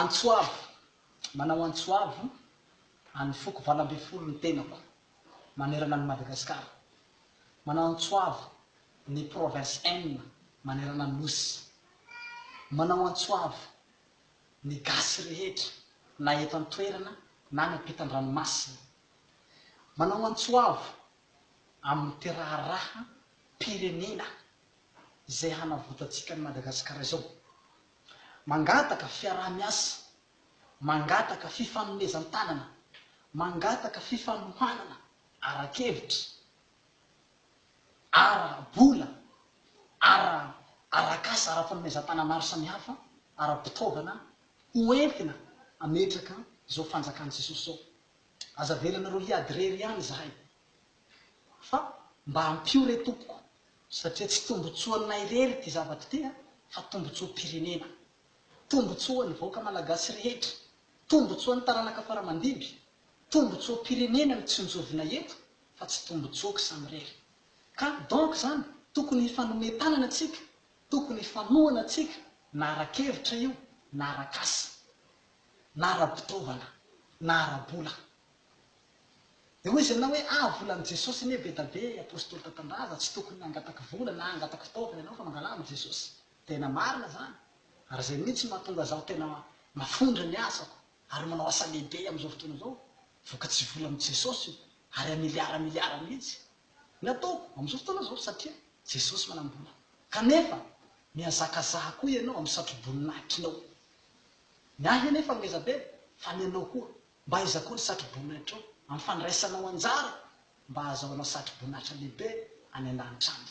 Antsoavo, manao antsoavo an'ny foko valo ambin'ny folo ny tenako manerana an'i Madagasikara. Manao antsoavo ny provinces enina manerana ny Nosy. Manao antsoavo ny gasy rehetra na eto an-toerana na any am-pitan-dranomasina. Manao antsoavo amin'ny ity raharaham-pirenena izay hanavotantsika an'i Madagasikara izao. Mangataka fiaraha-miasa, mangataka fifanomezan-tanana, mangataka fifanohanana ara-kevitra, ara-bola, ara-arak'asa, ara-panomezan-tanana maro samihafa, ara-pitaovana ho entina hametraka izao fanjakan'i Jesosy izao. Aza avelanareo hiady irery ihany izahay. fa mba ampio re tompoko satria tsy tombotsoa anay irery ity zavatra ity a fa tombotsoa pirenena tombotsoa ny vahoaka malagasy rehetra tombotsoa ny taranaka fara mandimby tombotsoa pirenena no tsinjovina eto fa tsy tombotsoako samirery ka donc zany tokony hifanome tanana tsika tokony hifanohana tsika na arakevitra io na arakasa na arabitaovana na arabola Dia hoy izy aminao hoe, Ah, volan'i Jesosy anie be da be, apostoly tantandraza, tsy tokony hangataka vola na hangataka fitaovana ianao fa mangalà amin'i Jesosy. Tena marina izany, ary izay mihitsy no mahatonga izaho tena mafondra ny asako ary manao asa lehibe amin'izao fotoana izao. Vokatry vola amin'i Jesosy io, ary amiliara miliara mihitsy ny ataoko amin'izao fotoana izao, satria Jesosy manam-bola. Kanefa, mihazakazaha koa ianao amin'ny satroboninahitrinao. Ny ahy anefa ngeza be, fa ny anao koa Mba aiza koa ny satroboninaitrao amin'ny fandraisanao anjara mba hahazahoanao satroboninahitra lehibe any an-danitra any?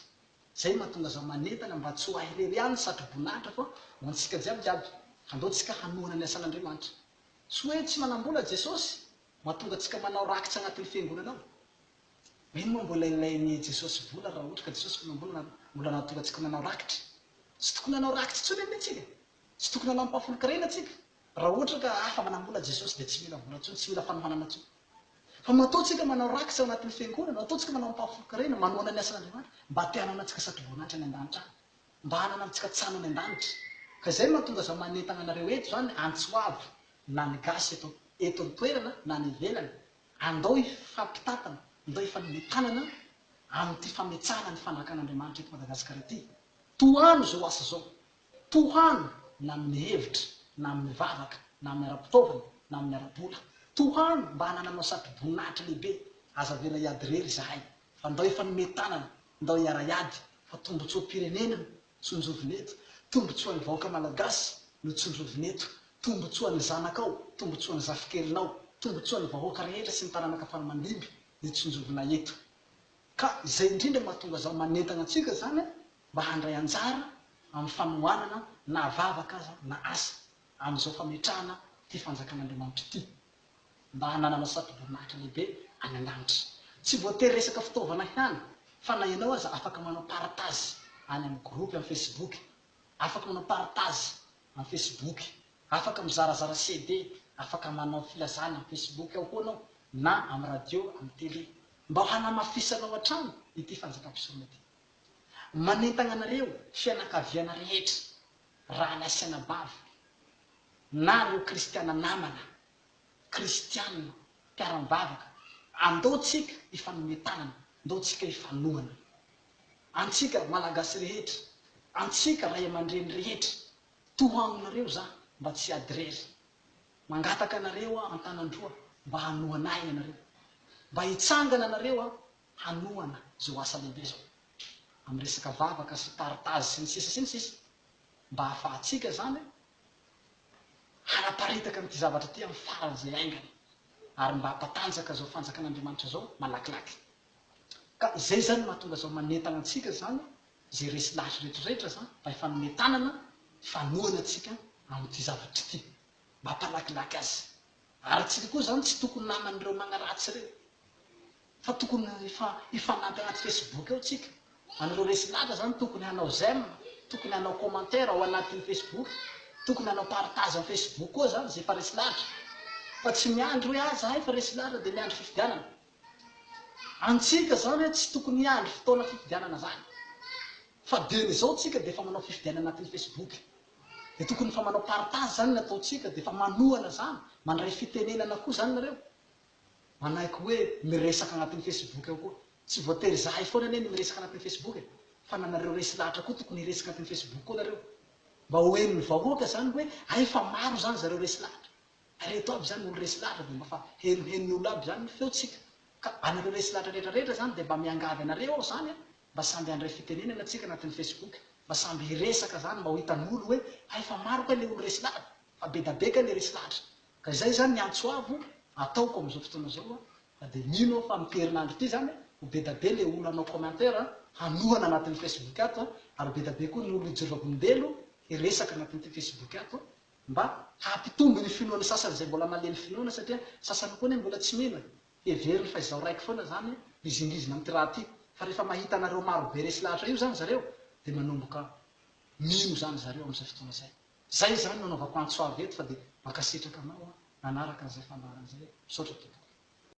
Izay no mahatonga azaho manentana mba tsy ho ahy irery ihany ny satroboninahitra fa ho antsika jiaby jiaby. Andao tsika hanohana ny asan'Andriamanitra. Tsy hoe tsy manam-bola Jesosy mahatonga antsika manao rakitra anatin'ny fiangonana ao. Mino moa mbola ilain'i Jesosy vola raha ohatra ka Jesosy mpanam-bola na mbola nahatonga antsika manao rakitra? Tsy tokony hanao rakitra intsony anie tsika. Tsy tokony hanao ampahafolon-karena tsika. Raha ohatra ka afa manam-bola Jesosy dia tsy mila vola intsony, tsy mila fanohanana intsony. Fa mba ataontsika manao rakitra ao anatin'ny fiangonana, ataontsika manao ampahafolon-karena, manohana ny asan'Andriamanitra, mba te hanana antsika sady voninahitra any an-danitra any. Mba hanana antsika tsano any an-danitra. Ka izay no mahatonga aza manentana anareo eto izany, antso hoavy, na ny gasy eto eto an-toerana na any ivelany, andao hifampitantana, ndao hifanome tanana amin'ity fametsahana ny fanjakan'Andriamanitra eto Madagasikara ity. Tohano izao asa izao. Tohano na amin'ny hevitra, na amin'ny vavaka, na amin'ny ara-pitaovana, na amin'ny ara-bola. Tohano mba hanananao satroboninahitra lehibe. Aza avela hiady irery izahay, fa ndao hifanome tanana, ndao hiara-hiady, fa tombontsoam-pirenena no tsinjovina eto, tombontsoan'ny vahoaka Malagasy no tsinjovina eto, tombontsoan'ny zanakao, tombontsoan'ny zafikelinao, tombontsoan'ny vahoaka rehetra sy ny taranaka faramandimby no tsinjovina eto. Ka izay indrindra no mahatonga zao manentana antsika izany mba handray anjara amin'ny fanohanana na vavaka aza na asa amin'izao fametrahana ity Fanjakan'Andriamanitra ity mba hananana satoborinahitra lehibe any an-danitra. Tsy voatery resaka fitaovana ihany fa na ianao aza afaka manao partage any amin'ny groupe amin'ny Facebook, afaka manao partage amin'ny Facebook, afaka mizarazara CD, afaka manao filazana amin'ny Facebook ao koa ianao na amin'ny radio, amin'ny télé mba hanamafisanao hatrany ity Fanjakam-pisorona ity. Manentagna anareo fianakaviana rehetra, rahalahy sy anabavy, na ireo kristiana namana, kristiana, mpiara-mivavaka, andao tsika hifanome tanana, ndao tsika hifanohana. Antsika Malagasy rehetra, antsika ray aman-dreny rehetra, toa aminareo za mba tsy adirery. Mangataka anareo aho an-tanan-droa mba hanohana ahy ianareo. Mba hitsangana anareo an, hanohana izao asa lehibe izao amin'ny resaka vavaka sy partage sy ny sisa sy ny sisa mba ahafahantsika izany hanaparitaka an'ity zavatra ity amin'ny faran'izay haingana ary mba hampatanjaka izao fanjakan'Andriamanitra izao malakilaky ka izay izany no mahatonga izao manentana antsika izany izay resy lahy ireto rehetra izany mba hifanome tanana hifanohana antsika amin'ity zavatra ity mba hampalakilaky azy ary antsika koa izany tsy tokony naman'ireo magnaratsy ireny Fa tokony hifanampy anaty Facebook eo tsika. Anareo resy laza zany tokony hanao j'aime, tokony hanao commentaire ao anatin'ny Facebook, tokony hanao partage am Facebook koa zany zay efa resy lahatra. Fa tsy miandry hoe ah zahay efa resy lahatra dia miandry fifidianana. Antsika zany hoe tsy tokony hiandry fotoana fifidianana zany. Fa dieny izao tsika dia efa manao fifidianana anatin'ny Facebook. Dia tokony efa manao partage zany ny ataontsika dia efa manohana zany, mandray fitenenana koa zany nareo. manaiky hoe miresaka anatin'ny Facebook ao koa. Tsy voatery izahay foana anie no miresaka anatin'ny Facebook e, fa na nareo resy lahatra koa tokony hiresaka anatin'ny Facebook koa nareo. Mba ho henon'ny vahoaka izany hoe hay fa maro izany zareo resy lahatra. Hay reto aby izany olo resy lahatra dia mba fa henohenon'ny olo aby izany ny feontsika. Ka anareo resy lahatra rehetra rehetra izany dia mba miangavy anareo aho izany a, mba samby handray fitenenana tsika anatin'ny Facebook. Mba samby hiresaka izany mba ho hitan'olo hoe hay fa maro kay le olo resy lahatra, fa bedabe kay le resy lahatra. Ka izay izany ny antso avo ataoko amin'izao fotoana izao fa dia mino aho fa amin'ity herinandro ity izany ho bedabe ilay olona hanao commentaire hanohana anatin'ny Facebook ato ary ho bedabe koa ny olona hijoro vavolombelo hiresaka anatin'ity Facebook ato mba hampitombo ny finoan'ny sasany izay mbola malemy finoana satria sasany koa anie mbola tsy mino e, heveriny fa izaho raiky foana izany mizingizina amin'ity raha ity fa rehefa mahita anareo marobe resy lahatra io izany zareo dia manomboka mino izany zareo amin'izay fotoana izay. Zay izany nanaovako antso avy eto fa dia mankasitraka anao an nanaraka an'izay fandaharana izay an. Misaotra tompoko.